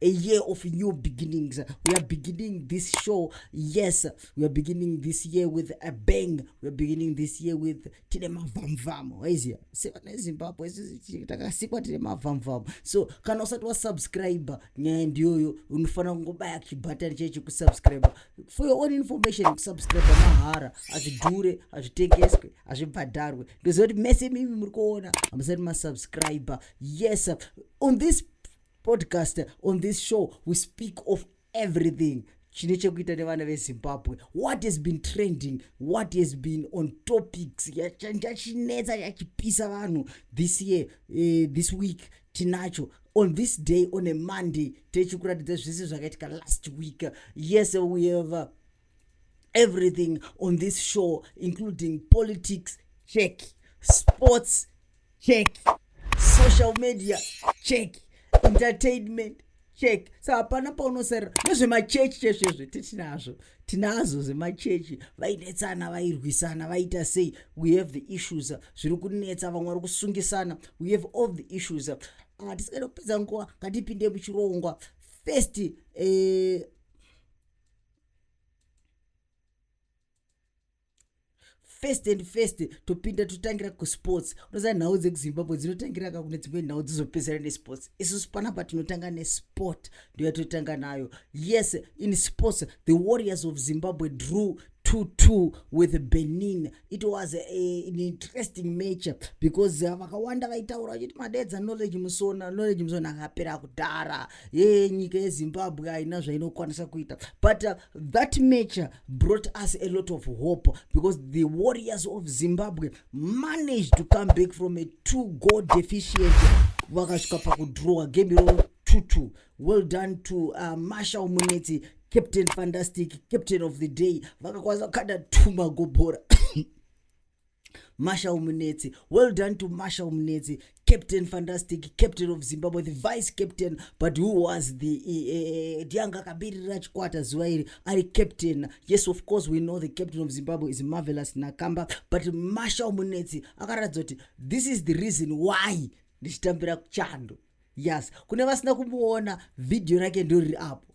a year of new beginnings. We are beginning this show. Yes, we are beginning this year with a bang. We are beginning this year with tine mavamvamu. Waizia? Sema na Zimbabwe takasikwa tine mavamvamu. So kana usati wa subscribe nyaya ndiyoyo unofanira kungobaya chibhatani chechi kusubscribe. For your own information kusubscribe mahara hazvidhure hazvitengeswe hazvibhadharwe. Ndoziva kuti mese mimi muri kuona hamusati masubscribe. Yes, on this podcast on this show we speak of everything chine chekuita nevana vezimbabwe what has been trending what has been on topics chachinetsa chachipisa vanhu this year uh, this week tinacho on this day on a monday techikuratidza zvese zvakaitika last week yes we have uh, everything on this show including politics check sports check social media check entertainment check sa hapana paunosarira nezvemachechi chezvo izvo titinazvo tinazo zvemachechi vainetsana vairwisana vaita sei we have the issues zviri kunetsa vamwe vari kusungisana we have all the issues hatisikaita ah, kupedza nguva ngatipinde muchirongwa first eh, first and first topinda totangira kusports unoziva nhau dzekuzimbabwe dzinotangira ka kune dzimwe nhau dzizopedzera nesports isusu panapa tinotanga nesport ndoyatotanga nayo yes in sports the warriors of zimbabwe drew 2-2 with benin it was a, a, an interesting match because uh, vakawanda uh, vaitaura vachiti madedza knowledge musona knowledge musona akapera kudhara ye nyika yezimbabwe haina zvainokwanisa kuita but uh, that match brought us a lot of hope because the warriors of zimbabwe managed to come back from a two goal deficient vakasvika pakudrowa game iroro 22 well done to uh, marshal munetsi captain fantastic captain of the day vakakwanisa kukanda two magobhora Marshall Munetsi. Well done to Marshall Munetsi, captain fantastic, captain of Zimbabwe, the vice captain, but who was the uh, Dianga Kabiri Rajkwata Zuairi, Ali captain. Yes, of course, we know the captain of Zimbabwe is Marvelous Nakamba, but Marshall Munetsi, Akarazoti, this is the reason why ndichitambira chando yes kune vasina kumuona vhidhiyo rake ndoriri apo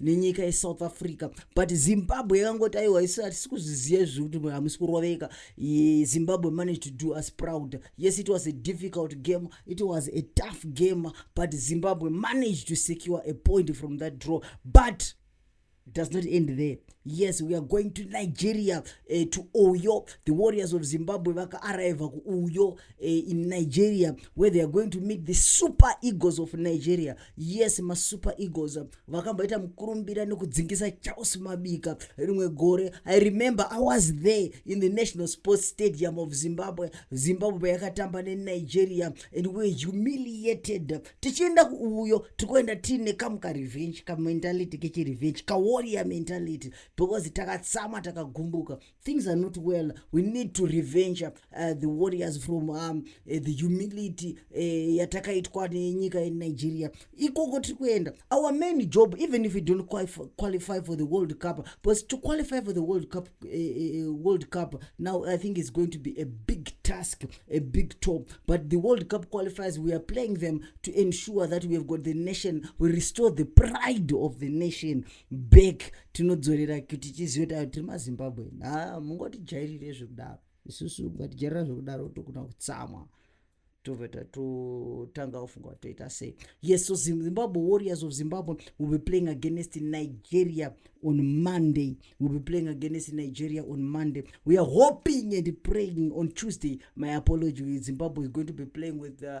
nenyika yesouth africa but zimbabwe yakangoti aiwa isu hatisi kuzviziva izvi zvekuti hamusi kuroveka zimbabwe managed to do us proud yes it was a difficult game it was a tough game but zimbabwe managed to secure a point from that draw but does not end there yes we are going to nigeria uh, to uyo the warriors of zimbabwe vakaarriva kuuyo uh, in nigeria where they are going to meet the super eagles of nigeria yes masuper eagles vakamboita mukurumbira nekudzingisa charles mabika rimwe gore i remember i was there in the national sports stadium of zimbabwe zimbabwe payakatamba nenigeria and were humiliated tichienda kuuyo tikuenda tiine kamu karevenge kamentality kechirevenge kawarrior mentality because takatsama takagumbuka things are not well we need to revenge uh, the warriors from um, uh, the humility uh, yatakaitwa nenyika yenigeria ikoko tiri kuenda our main job even if we don't qualify for the world cup because to qualify for the world cup uh, uh, uh, world cup now i think it's going to be a big task a big top but the world cup qualifiers we are playing them to ensure that we have got the nation we restore the pride of the nation back tinodzorera kuti tizive kuti tiri mazimbabwe ha mungotijairire zvekudaro isusu ungatijairira zvekudaro tokuna kutsamwa tobva tatotanga kufunga kuti toita sei yes so zimbabwe warriors of zimbabwe will be playing against nigeria on monday will be playing against nigeria on monday we are hoping and praying on tuesday my apology zimbabwe is going to be playing with uh,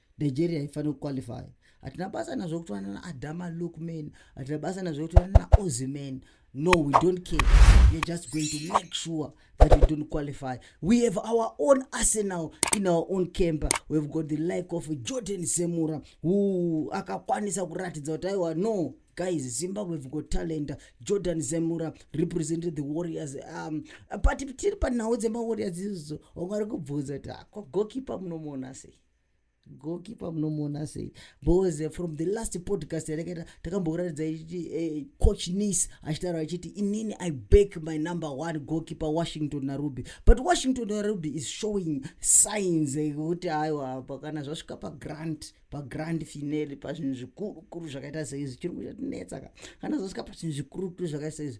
nigeria haifaniri kuqualify hatina basa nazvo kutorana naadama lookman hatina basa nazvo kutorana naoziman no we don't care weare just going to make sure that we don't qualify we have our own arsenal in our own camper weave got the like of jordan semura who akakwanisa kuratidza kuti aiwa no guys zimbabwe have got talent jordan zemura represented the warriors um, but tiri panhau dzemawarriors izozo wanga ari kubvunza kuti akwagokipa ah, munomuona sei gokipa munomuona sei bcause eh, from the last podcast yatakaita takambokuratidza ichiti eh, coach nice achitaura achiti inini i back my number one gokipa washington naruby but washington naruby is showing signs ekuti eh, aiwa pakana zvasvika pagrant pagrand finale pazvinhu zvikurukuru zvakaita saizvi chirungu chatinetsa ka kana zvasvika pazvinhu zvikurukuru zvakaita saizvi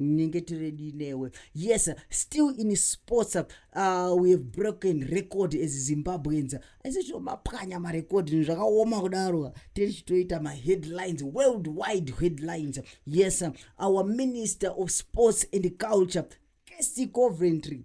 ndinenge tiredii newe yes still in sports uh, we have broken record as zimbabweans aise tinomapwanya marecord ni zvakaoma kudaro tiri chitoita maheadlines world wide headlines yes our minister of sports and culture casty coventry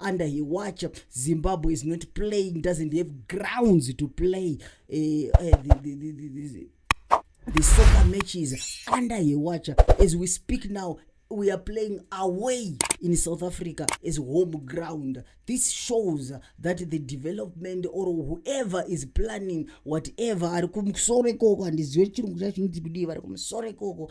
under her watch zimbabwe is not playing doesn't have grounds to play uh, uh, the, the, the, the, the, the soccer matches under her watch as we speak now we are playing away in south africa as home ground this shows that the development or whoever is planning whatever ari kumusoro ikoko handizive chirungu chacho chinoti kudii vari kumusoro ikoko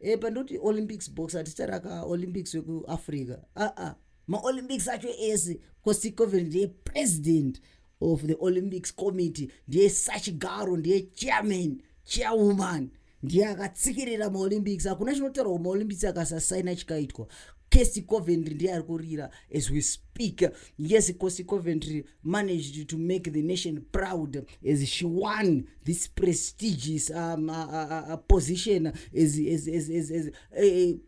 e pandoti olympics box hatitaraka olympics wekuafrica aa maolympics acho ese cosi coven ndiye president of the olympics committee ndiye sachigaro ndiye chairman chairwoman ndiye akatsikirira maolympics hakuna chinotaurwa kumaolympics akasasaina chikaitwa casi coventry ndiye ari kurira as we speak yes cosi coventry managed to make the nation proud as she won this prestigious um, uh, uh, uh, position as, as, as, as, as, uh,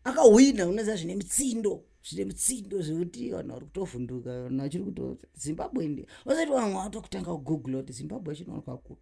akahwina unoziva zvine mitsindo zvine mitsindo zvekuti vanhu vari kutovhunduka vanhu vachiri kuto zimbabwe ndi vasaiti vamwe vatokutanga kugoogle kuti zimbabwe chinowanikwa kupi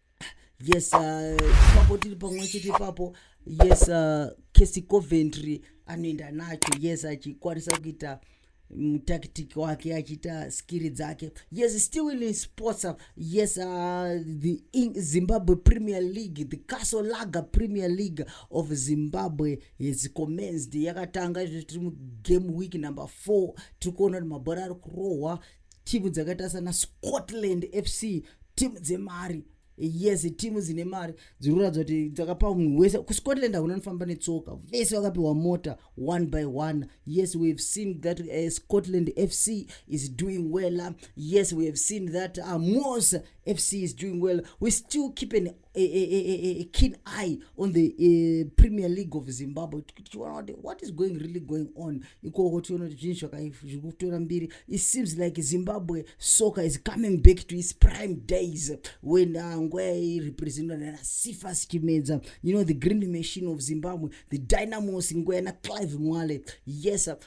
yes uh, ipapo tiri pamwe chete ipapo yes uh, kesi coventry anoenda nacho yes achikwanisa kuita mutactic wake achiita skiri dzake yes still in sports uh, yes uh, the zimbabwe premier league the castle lager premier league of zimbabwe has commenced yakatanga izvo tiri mugame week number four tiri kuona kuti mabhora ari kurohwa timu dzakaita sana scotland fc timu dzemari yes timu dzine mari dziri kuratidza kuti dzakapa munhu wese kuscotland hakuna nofamba netsoka vese vakapiwa mota one by one yes we have seen that uh, scotland fc is doing well yes we have seen that amos fc is doing well we still keep an a, a, a, a keen eye on the uh, premier league of zimbabwe tichiona kuti what is going really going on ikoko tiona kuti zvinhu zviri kutora mbiri it seems like zimbabwe soccer is coming back to its prime days when uh, nguva yairepresentwa nana sifas chimedza you know the green machine of zimbabwe the dynamos nguva yana clive mwale yes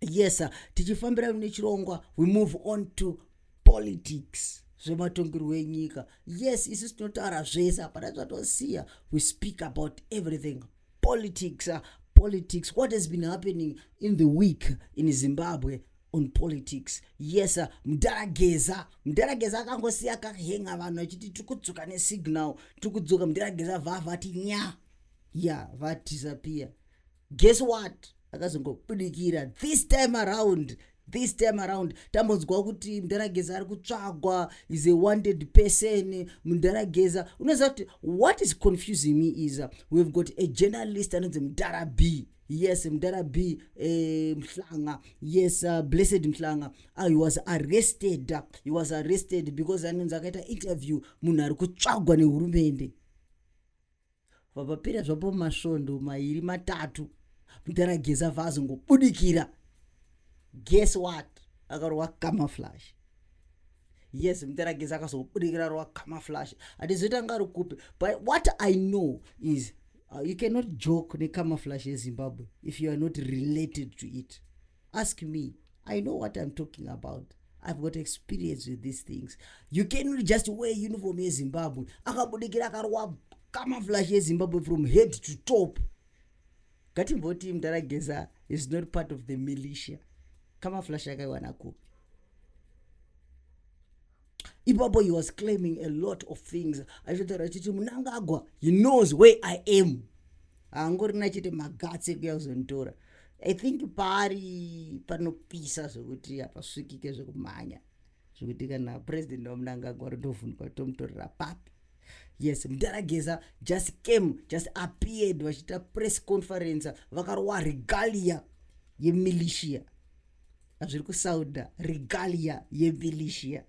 yes tichifambira nechirongwa we move on to politics zvematongerwo enyika yes isu tinotaura zvese hapana zvatosiya we speak about everything politics uh, politics what has been happening in the week in zimbabwe on politics yes uh, mdara geza mdara geza akangosiya kahenga vanhu achiti tiri kudzoka nesignal tiri kudzoka mdara geza vavati nya ya yeah, vatisa piya guess what akazongobudikira this time around this time around tambonzwawo kuti mdharageza ari kutsvagwa is a wanted person mdharageza unoziva kuti what is confusing me is uh, we've got a journalist anonzi mdhara b yes mdhara b eh, mhlanga yes uh, blessed mhlanga uh, he was arrested he was arrested because anonzi akaita interview munhu ari kutsvagwa nehurumende vapapera zvapo masvondo mairi matatu mudhara gesa vazongobudikira guess what akarova camouflage yes mudhara gesa akazobudikira rova camouflage hatizoita nga ari kupi but what i know is uh, you cannot joke necamouflage yezimbabwe if you are not related to it ask me i know what i'm talking about i've got experience with these things you cannot just wear uniform yezimbabwe akabudikira akarwa kamaflash yezimbabwe from head to top ngatimboti mdara geza is not part of the militia kamaflash akaiwana kupi ipapo he was claiming a lot of things aitotaura achiti munangagwa he knows where i am haangorina achiti magatsi ekuya kuzonditora i think paari panopisa zvekuti hapasvikike zvekumhanya zvekuti kana president wamunangagwa rotovhunduka tomutorera papi yes mdarageza just came just appeared vachiita press conference vakarowa regalia yemilitia zviri kusauda regalia yevilisia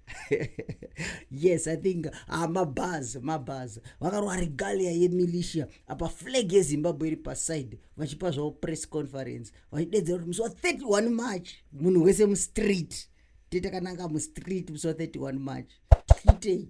yes i think ah, mabhaz mabhaz vakarova regalia yemilisia apa flag yezimbabwe iri paside vachipa zvavo press conference vachidedzera kuti musi wa 31 march munhu wese mustreet tete kananga mustreet musi wa 31 march tiitei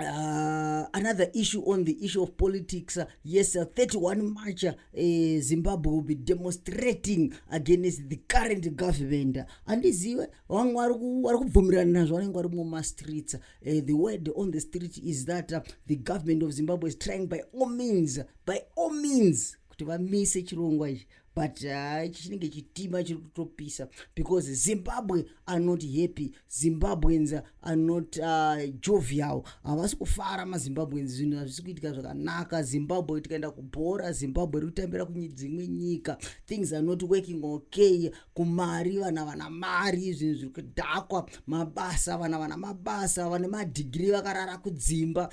Uh, another issue on the issue of politics uh, yes uh, 31 march uh, eh, zimbabwe will be demonstrating against the current government handizive vamwe vari kubvumirana nazvo vanenge vari mumastreets uh, eh, the word on the street is that uh, the government of zimbabwe is trying by all means by all means kuti vamise chirongwa ichi but ah, ichi chinenge chitima chiri kutopisa because zimbabwe are not happy zimbabweans are not ah, jovial havasi kufara mazimbabweans zvinhu hazvisi kuitika zvakanaka zimbabwe tikaenda kubhora zimbabwe iri kutambira kudzimwe nyika things are not working okay kumari vana vana mari zvinhu zviri kudhakwa mabasa vana vana mabasa vane madhigiri vakarara kudzimba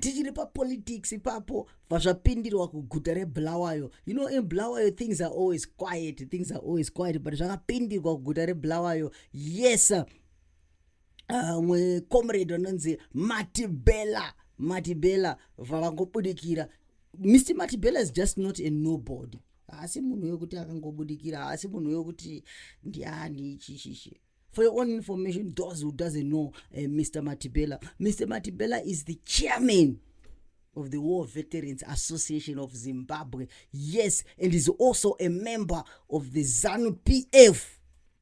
tichiri papolitics ipapo pazvapindirwa kuguta rebulawayo you know in bulawayo things are always quiet things are always quiet but zvakapindirwa kuguta rebulawayo yes uh, mwe comrade vanonzi matibela matibela vavangobudikira mr matibela is just not a nobody haasi munhu wekuti akangobudikira haasi munhu wekuti ndiani chishishe For your own information, those who doesn't know uh, eh, Mr. Matibela, Mr. Matibela is the chairman of the War Veterans Association of Zimbabwe. Yes, and is also a member of the ZANU PF,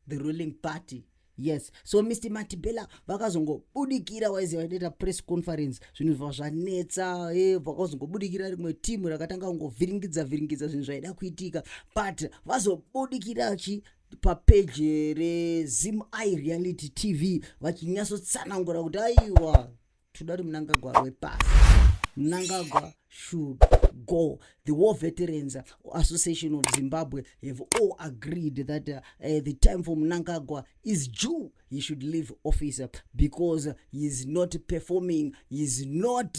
the ruling party. yes so mr matibela vakazongobudikira waize vaitaita press conference zvinhu zva zvanetsa eh, vakazongobudikira rimwe timu rakatanga kungovhiringidza vhiringidza zvinhu zvaida kuitika but vazobudikira chi papeji rezim i reality tv vachinyatsotsanangura kuti aiwa toda kuti munangagwa wepasi munangagwa should go the war veterans association of zimbabwe have all agreed that uh, uh, the time for munangagwa is due he should leave office because he is not performing he is not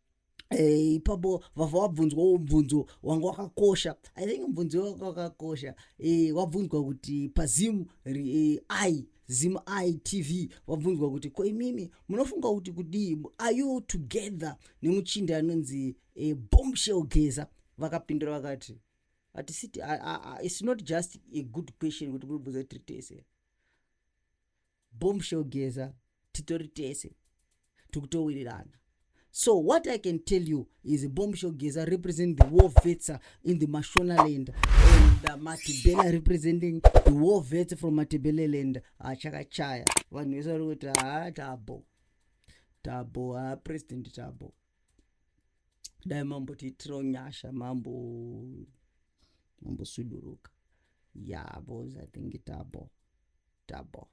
Eh, ipapo vava wabvunzwawo mubvunzo wanga wakakosha i think mubvunzo wanga wakakosha eh, wabvunzwa kuti pazim eh, i zim i tv wabvunzwa kuti ko imimi munofunga kuti kudii are you together nemuchinda anonzi eh, bombshell geza vakapindura vakati hatisiti it's not just a good question kuti muribvunza tiri tese bombshell geza titori tese tikutowirirana so what i can tell you is bombshell geza represent the war vets uh, in the mashonaland and uh, matibela representing the war vets from matibeleland achakachaya ah, vanhu vese vari kuti haa ah, tabo tabo haa ah, president tabo dai mambo tiitiro nyasha mambo mambo suduruka yabo yeah, i think tabo double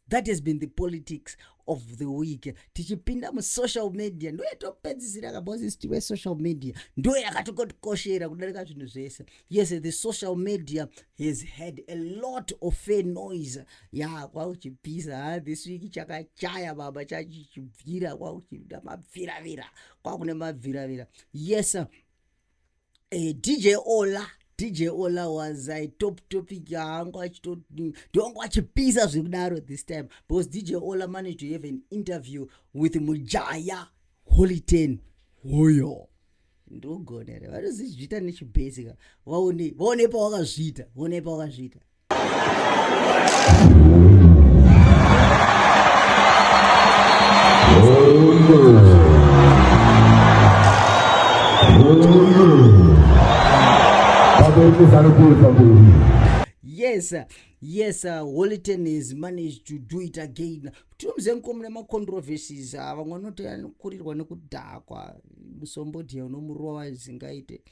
that has been the politics of the week tichipinda musocial media ndo yatopedzisira kabosisiti wesocial media ndo yakatokotikoshera kudarika zvinhu zvese yes the social media has had a lot of fair noise ya yeah, kwakuchipisa ha this week chakachaya baba chachichibvira kwakuchiita mabviravira kwakune mabviravira yes eh, dj ola dj ola was i top topic yaangu achitondongu achipisa zvekudaro this time because dj ola managed to have an interview with mujaya holiten hoyo ndogonere vanozizviita nechibhesika vaone vaone pawakazviita vaone pawakazviita yes yes uh, holy ten has managed to do it again tinomze mkomune macontroversies ah, vamwe vanoti anokurirwa nekudhakwa musombodhiya unomurowa zingaite uh,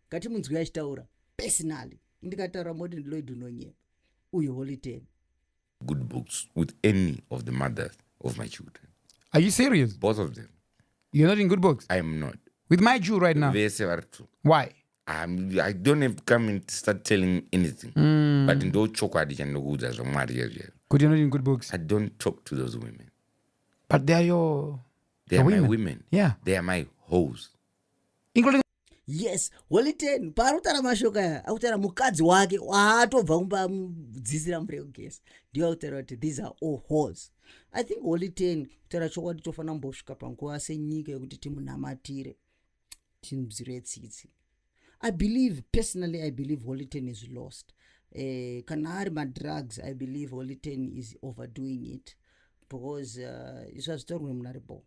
ngatimunzwi achitaura personally ndikataura moti ndiloid unonyeba uyu holiten good books with any of the mothers of my children are you serious both of them you're not in good books i am not with my jew right now vese vari two why I'm, i don't have to come and start telling anything mm. but ndo chokwadi chandinokuudza zvamwari yezvero kuti not in good books i don't talk to those women but they are your they are women. my women yeah they are my hoes including yes holy ten paari kutaura mashoko aya akutaura mukadzi wake waatobva kumba amudzisira mvura yekugesa ndiyo akutaura kuti these are all hos i think holy ten kutaura chokwadi tofanira kumbosvika panguva senyika yekuti timunamatire timzire tsitsi i believe personally i believe holy ten is lost eh, kana ari madrugs i believe holy ten is overdoing it because uh, izvazvitorwe munaribo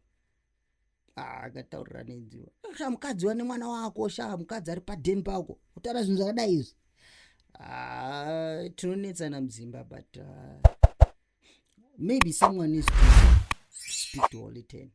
akataurira ah, nenziwa sha mukadzi wane mwana wako sha mukadzi ari padeni pako kutaura zvinhu zvakadai izvi ah, tinonetsana muzimba but uh, maybe someone is speak to holy ten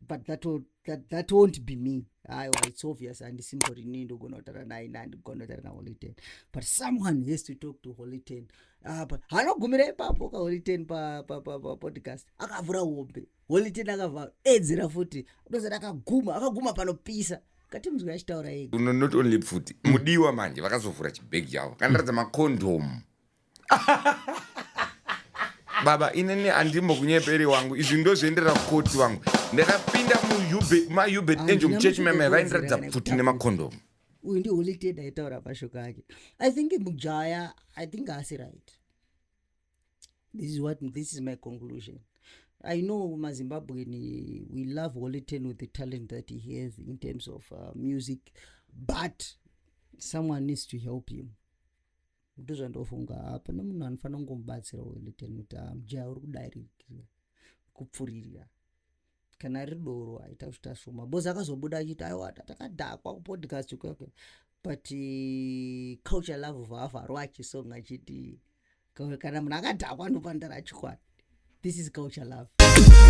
but that, will, that, that won't be me aiwa ah, it's obvious handisimbori nii ndogona kutaura naye na ndigona kutaura naholy ten but someone has to talk to holy ten ah, but hanogumira ipapo kaholy ten papodcast pa, pa, pa, akavhura hombe holy ten akavhara edzera futi dozera akaguma akaguma panopisa kati mzwi achitaura ega no, not only pfuti mudiwa manje vakazovhura chibhegi chavo kandiratidza makondomu baba inini andimbo kunyeperi wangu izvi ndozviendera kukoti wangu ndakapinda mumayube enjo muchechi meme vaindiratidza pfuti nemakondomu uyu ndi holy ten aitaura mashoko ake i think mujaya i think asi right this is what this is my conclusion i know mazimbabwean we love holiten with the talent that he has in terms of uh, music but someone needs to help him ndozvandofunga hapana munhu anofanira kungomubatsira holiten kuti amjaya ah, uri kudarikira kupfuririra kana ari doro aita kuita shoma bcoz akazobuda achiti aiwa takadhakwa kupodcast kwekwe but eh, culture love vavharwa achisong achiti kana munhu akadhakwa anopandara chikwadi this is culture love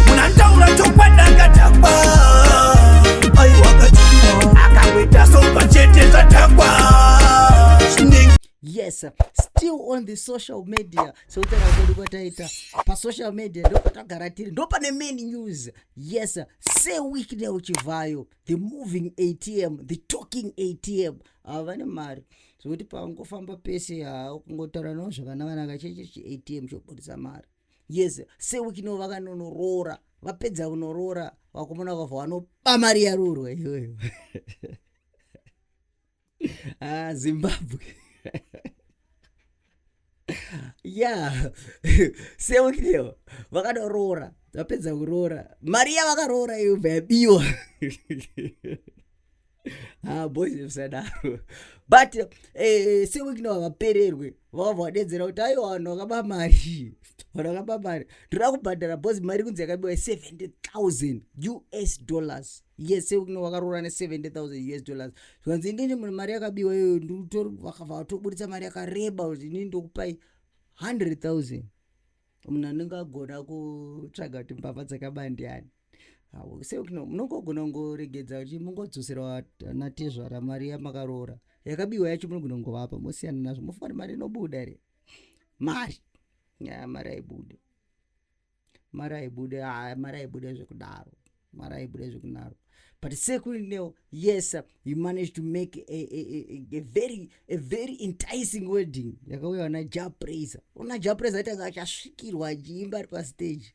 munandaura chokwadi akadhakwa yes still on the social media seutano kwedu kwataita pasocial media ndopatagara tiri ndopane main news yes seweekday uchivhayo the moving atm the talking atm ava vane mari zvekuti pangofamba pese haa kungotaura navo zvavana vana kacheche chiatm chobudisa mari yes seweekday vakanonoroora vapedza kunoroora vakomana vakavha vanoba mari yarurwa iyoyo ah, zimbabwe ya seukideo vakadoroora vapedza kuroora mari yavakaroora iyo bva yabiwa ha ah, boys vsadaro but eh, seukideo havapererwe vakabva vadedzera kuti aiwa vanhu vakaba mari vanhu vakaba mari ndoda kubhadhara bhozi mari kunzi yakabiwa ye70 000 us dollars yese kuno vakaroora ne70 000 us dollars zvikanzi inini mune mari yakabiwa iyoyo vakabva vatoburitsa mari yakareba kuti inini ndokupai 100 000 munhu anenge agona kutsvaga kuti mbavha dzakaba ndiani seuno munongogona kungoregedza kuti mungodzoserwa natezvara mari yamakaroora yakabiwa yacho munogona kungovapa mosiyana nazvo mofana mari inobuda here mari ya mari aibude mari aibude ah, mari aibude zvekudaro mari aibude zvekudaro but sekuineo yes you managed to make a, a, a, a very a very enticing wedding yakauya vana japraiser ona japraiser aitanga achasvikirwa achiimba ari pastage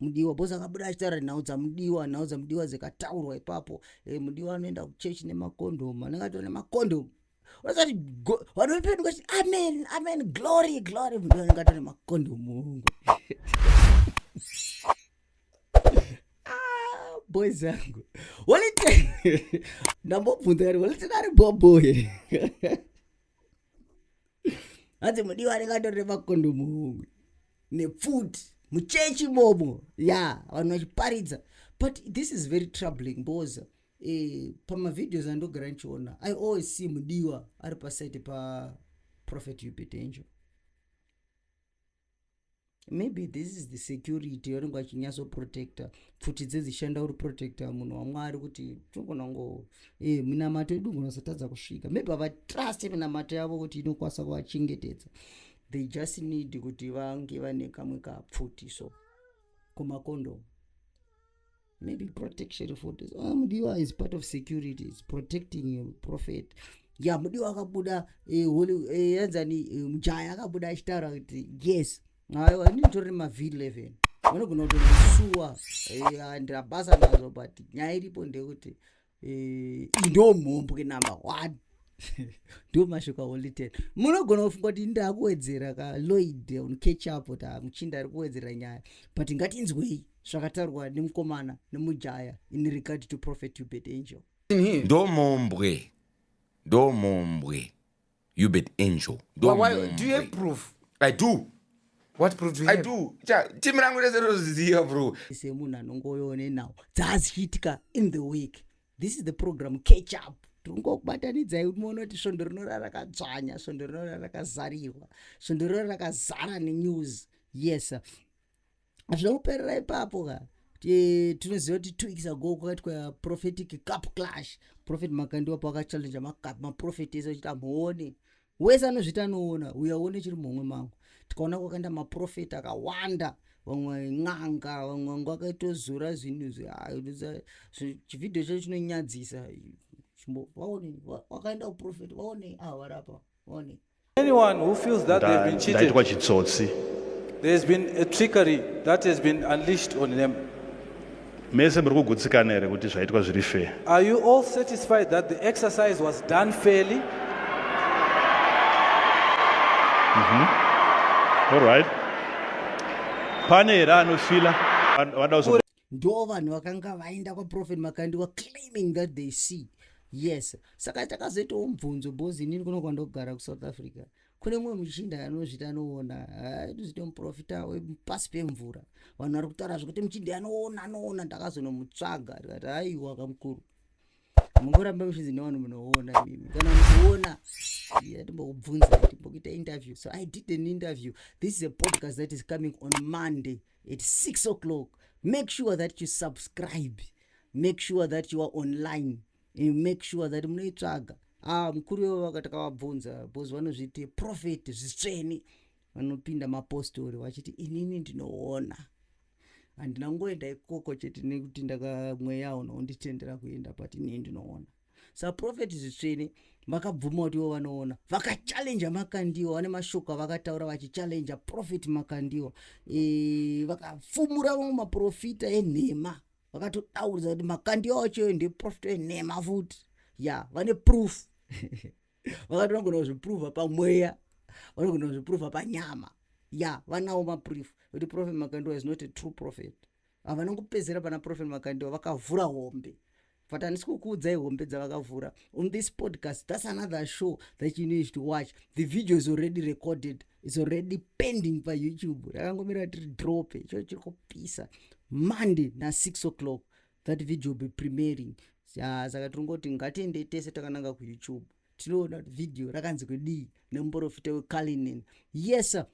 mudiwa bhosi akabuda achitaura nhau dzamudiwa nhau dzamudiwa dzikataurwa ipapo e, mudiwa anoenda kuchechi nemakondomu anenge atora nemakondomu vakati vanopeduka chiti amen amen glory glory mudiwa anenge atora nemakondomu hongu ah, boys angu walite ndambobvunza kati walite nari bobo here hanzi mudiwa rikatorere makondomu homwe nepfuti muchechi bobo ya vanhu vachiparidza but this is very troubling because eh, pamavideos andogara ndichiona i always see mudiwa ari pasaite paprophet upetenjo maybe this is the security yaunenge achinyatso protector pfuti dzedzishanda uri protector munhu wamwari kuti tinogona ngo e eh, minamato yedu ngonasatadza kusvika maybe havatrust minamato yavo kuti inokwanisa kuvachengetedza they just need kuti vange vane kamwe kapfuti so kumakondomu maybe protection for this ah, mudiwa is part of security is protecting your prophet ya mudiwa akabuda eh, eh, yanzani eh, mujaya akabuda achitaura kuti yes aiwa ini nditori nemavhiri 11 vanogona kutosuwa eh, andira basa nazvo but nyaya iripo ndeyekuti eh, ndo mhombwe number one ndo mashoka only ten munogona kufunga kuti ndakuwedzera ka loid on catch up kuti ah, muchinda ari kuwedzera nyaya but ngatinzwei zvakataurwa nemukomana nemujaya in regard to prophet ubed angel ndo mhombwe ndo mhombwe you bet angel But why, do you have proof i do what proof do you i have? do Cha- team rangu rese rinoziva bro semunhu anongovewo nenhau dzaazichiitika in the week this is the program catch up tiringokubatanidzai moona kuti svondo rinorara rakadzvanya svondo rinorara rakazarirwa svondo rinorara rakazara nenews yes sir. hazvina kuperera ipapo ka eh, tinoziva kuti two weeks ago kwakaitwa prophetic cup clash prophet makandiwa paakachallenja macup maprofet ese achiti amuone wese anozviti anoona uye aone chiri muhomwe mangu tikaona kwakaenda maprofeti akawanda vamwe n'anga vamwe vangu akaitozora zvinhu chivhidhiyo chacho chinonyadzisa wakaenda kuprofeti vaone avarapa ah, vaone Anyone who feels that they've been cheated. Ndaitwa chitsotsi. There has been a trickery that has been unleashed on them. Mese muri kugutsikana here kuti zvaitwa zviri fair? Are you all satisfied that the exercise was done fairly? Mhm. Mm all right. Pane here anofila? Vada ndo vanhu vakanga vaenda kwaprofet makandiwa claiming that they see yes saka takazoitawo mubvunzo bos inini kuno kwandogara kusouth africa kune mumwe muchinda anozviti anoona aitozviti ah, muprofita wepasi pemvura vanhu vari kutaura zvekuti muchinda anoona anoona ndakazonomutsvaga tikati aiwa kamukuru mungoramba muchinzi nevanhu munoona mimi kana mukuona atimbokubvunza timbokuita interview so i did an interview this is a podcast that is coming on monday at 6 o'clock make sure that you subscribe make sure that you are online and make sure that munoitsvaga ah, mukuru wevo vakatakavabvunza bcause vanozviti profet zvitsveni vanopinda mapostori vachiti inini ndinoona handina ngoenda ikoko chete nekuti ndakamweya unonditendera kuenda but inini ndinoona saprofeti zvitsvene vakabvuma kuti ivo vanoona vakachallenja makandiwa vane mashoko avakataura vachichallenja profeti makandiwa e, vakafumura vamwe maprofita enhema vakatodaudza kuti makandiwa wacho ndeprofita enhema futi ya yeah, vane proof vakati vanogona kuzviprova pamweya vanogona kuzviprova panyama ya vanawo maproof kuti prophet makandiwa is not a true prophet havana kupedzera pana prophet makandiwa vakavhura hombe but handisi kukuudzai hombe dzavakavhura on this podcast thats another show that you need to watch the video is already recorded is already pending payoutube rakangomira tiri drope icho chiri kupisa monday nasix o'clock that video will be premiering ya saka tiri ngoti ngatiendei tese takananga kuyoutube tinoona kuti video rakanzi kudii nemuporofita wekalinin yes sir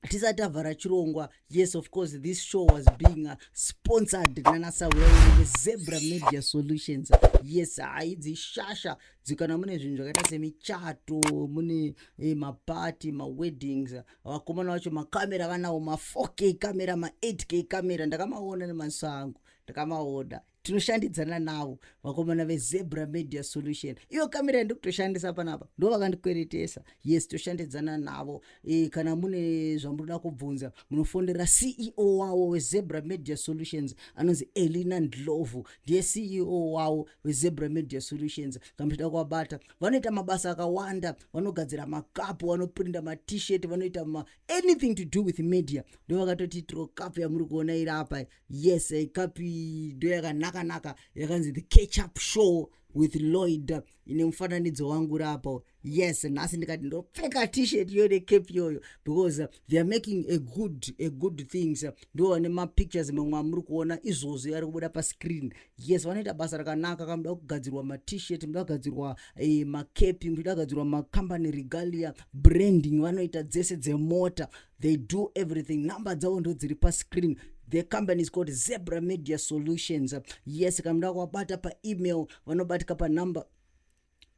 tisati tavhara chirongwa yes of course this show was being uh, sponsored nanasawezebra media solutions yes hai dzishasha dzikana mune zvinhu zvakaita semichato mune eh, mapati maweddings vakomana vacho makamera vanawo ma4 k kamera ma8 k kamera ndakamaona nemaziso angu ndakamaona tinoshandidzana navo vakomana vezebra media solution iyo kamera yandikutoshandisa panapa ndo vakandikweretesa yes toshandidzana navo e, kana mune zvamunoda kubvunza munofonera ceo wavo wezebra media solutions anonzi elina ndlovu ndiye ceo wavo wezebra media solutions kamuchida kuvabata vanoita mabasa akawanda vanogadzira makapu vanoprinda matshirt vanoita ma anything to do with media ndo vakatoti trokapu yamuri kuona iri apa yes ikapi ndoyakanaka naka yakanzi the catch up show with lloyd ine mufananidzo wangu rapo yes nhasi ndikati ndopfeka tshirt iyo necape iyoyo because theyare making a good a good things ndo vane mapictures mamwe amuri kuona izvozvo yari kubuda pascreen yes vanoita basa rakanaka kamuda kugadzirwa matshirt muda kugadzirwa eh, macape muda kugadzirwa macompany regalia branding vanoita dzese dzemota they do everything number dzavo ndo dziri pascreen the company is called zebra media solutions yes kana muda kuwabata paemail vanobatika panumber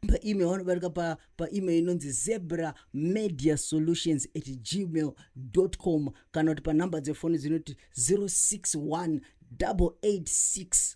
paemail vanobatika pa, paemail inonzi zebra media solutions at gmail com kana kuti panumber dzefoni dzinoti 061 886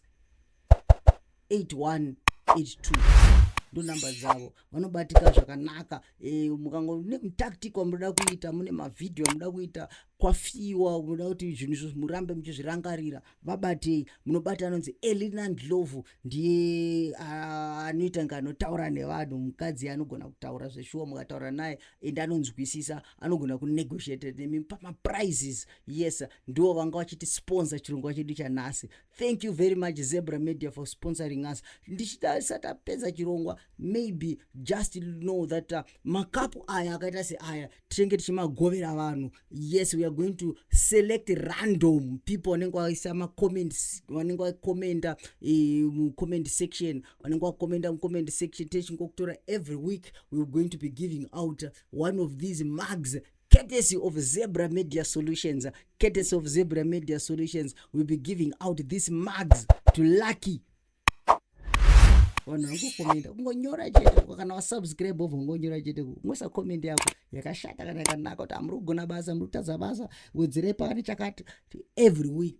81 82 ndonumber dzavo vanobatika zvakanaka e, mukango nemutactic wamunoda kuita mune mavhidhiyo amunoda kuita kwafiwa munoda kuti zvinhu izvo murambe muchizvirangarira vabatei munobata anonzi elinan lovu ndiye anoita nga anotaura nevanhu mukadzi anogona kutaura zveshuwa mukataura naye and anonzwisisa anogona kunegotiate nemi pamaprizes yes ndiwo vanga vachiti sponsor chirongwa chedu chanhasi thank you very much zebra media for sponsoring us ndichitarisa tapedza chirongwa maybe just know that uh, makapu aya akaita seaya tichenge tichimagovera vanhu yes weare going to select random people vanenge vaisa macomments vanenge vacomenta eh, mucomment uh, section vanenge vacomenta mucomment section techingokutora every week weare going to be giving out one of these mugs courtesy of Zebra Media Solutions, courtesy of Zebra Media Solutions, we'll be giving out these mugs to lucky vanhu vangokomenda kungonyora chete kana wasubscribe obva ungonyora chete kungoisa comment yako yakashata kana yakanaka kuti hamuri kugona basa muri kutadza basa wedzerei pakati chakati every week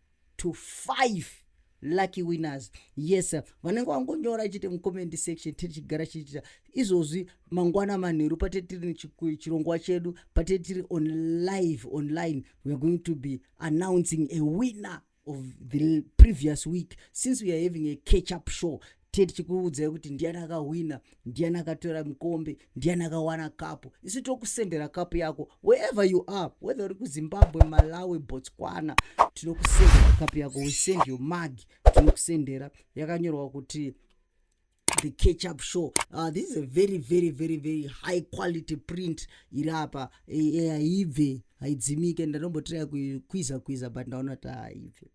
to five lucky winners yes vanenge vangonyora chete mucomment section tiri chigara chiitira izvozvi mangwana manheru pate tiri chirongwa chedu pate tiri on live online weare going to be announcing a winner of the previous week since we are having a catch up show tiye tichikuudzai kuti ndiyani akahwina ndiyani akatora mukombe ndiyani akawana kapu isu tokusendera kapu yako wherever you are whether uri kuzimbabwe malawi botswana tinokusendera kapu yako we send your mag tinokusendera yakanyorwa kuti the catch up show uh, this is a very very very very high quality print iri apa eh, eh, haibve haidzimike ndanombotiraya kuiza kuiza but ndaona kuti haibve